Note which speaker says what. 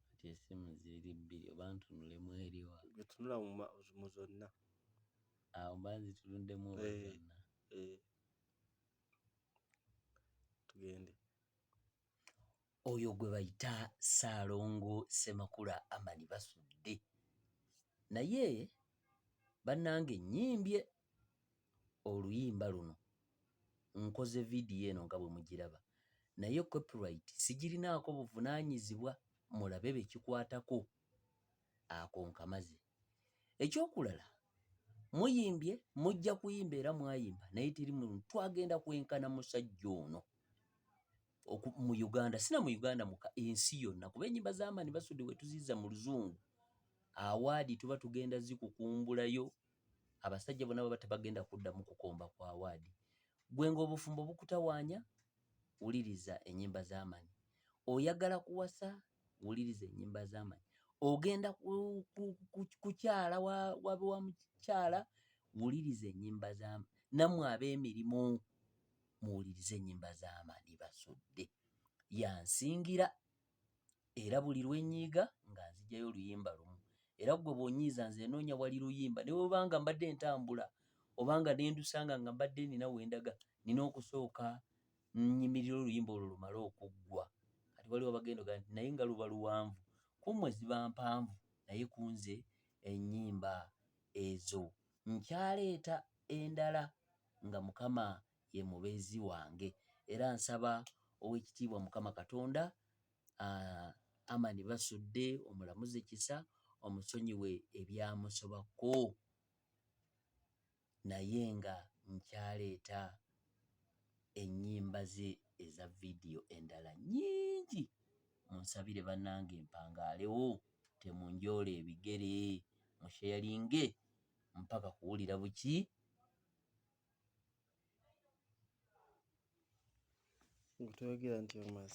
Speaker 1: kati esimu ziri bbiri oba ntunule mweriwa etunula
Speaker 2: mu zonna awo
Speaker 1: mba nzitunudemu oba eh, zonna eh.
Speaker 2: tugende
Speaker 1: oyo gwe bayita Ssaalongo Ssemakula Amani Basudde naye bannange nnyimbye oluyimba luno nkoze vidiyo eno nga bwe mugiraba naye copyright sigirinaako buvunaanyizibwa mulabe be kikwatako ako nkamaze ekyokulala muyimbye mujja kuyimba era mwayimba naye teri muntu twagenda kwenkana musajja ono mu uganda sina mu uganda muka ensi yonna kuba enyimba zamaani basudde wetuziza mu luzungu awaadi tuba tugenda zikukumbulayo abasajja bona baba tebagenda kuddamu kukomba ku awaadi gwe ng'obufumbo bukutawaanya wuliriza ennyimba z'amanyi oyagala kuwasa wuliriza ennyimba z'amanyi ogenda kukyala wabe wa mukyala wuliriza ennyimba z'amanyi nammwe ab'emirimu muwulirize ennyimba z'amanyi basudde yansingira era buli lwe nnyiiga nga nzigyayo oluyimba lumu era ggwe bw'onyiiza nze nnoonya wali luyimba ne bwe banga mbadde ntambula oba nga ne ndusanga nga mbadde nina we ndaga nina okusooka nnyimirira oluyimba olwo lumale okuggwa kati waliwo abagenda ogaa nti naye nga luba luwanvu ku mmwe ziba mpanvu naye ku nze ennyimba ezo nkyaleeta endala nga mukama ye mubeezi wange era nsaba ow'ekitiibwa mukama katonda uh, amani basudde omulamuze kisa omusonyiwe ebyamusobako naye nga nkyaleeta ennyimba ze eza vidiyo endala nyingi munsabire banange mpangaalewo temunjoola ebigere musheyalinge mpaka kuwulira buki
Speaker 2: Gutwogera nti omaze.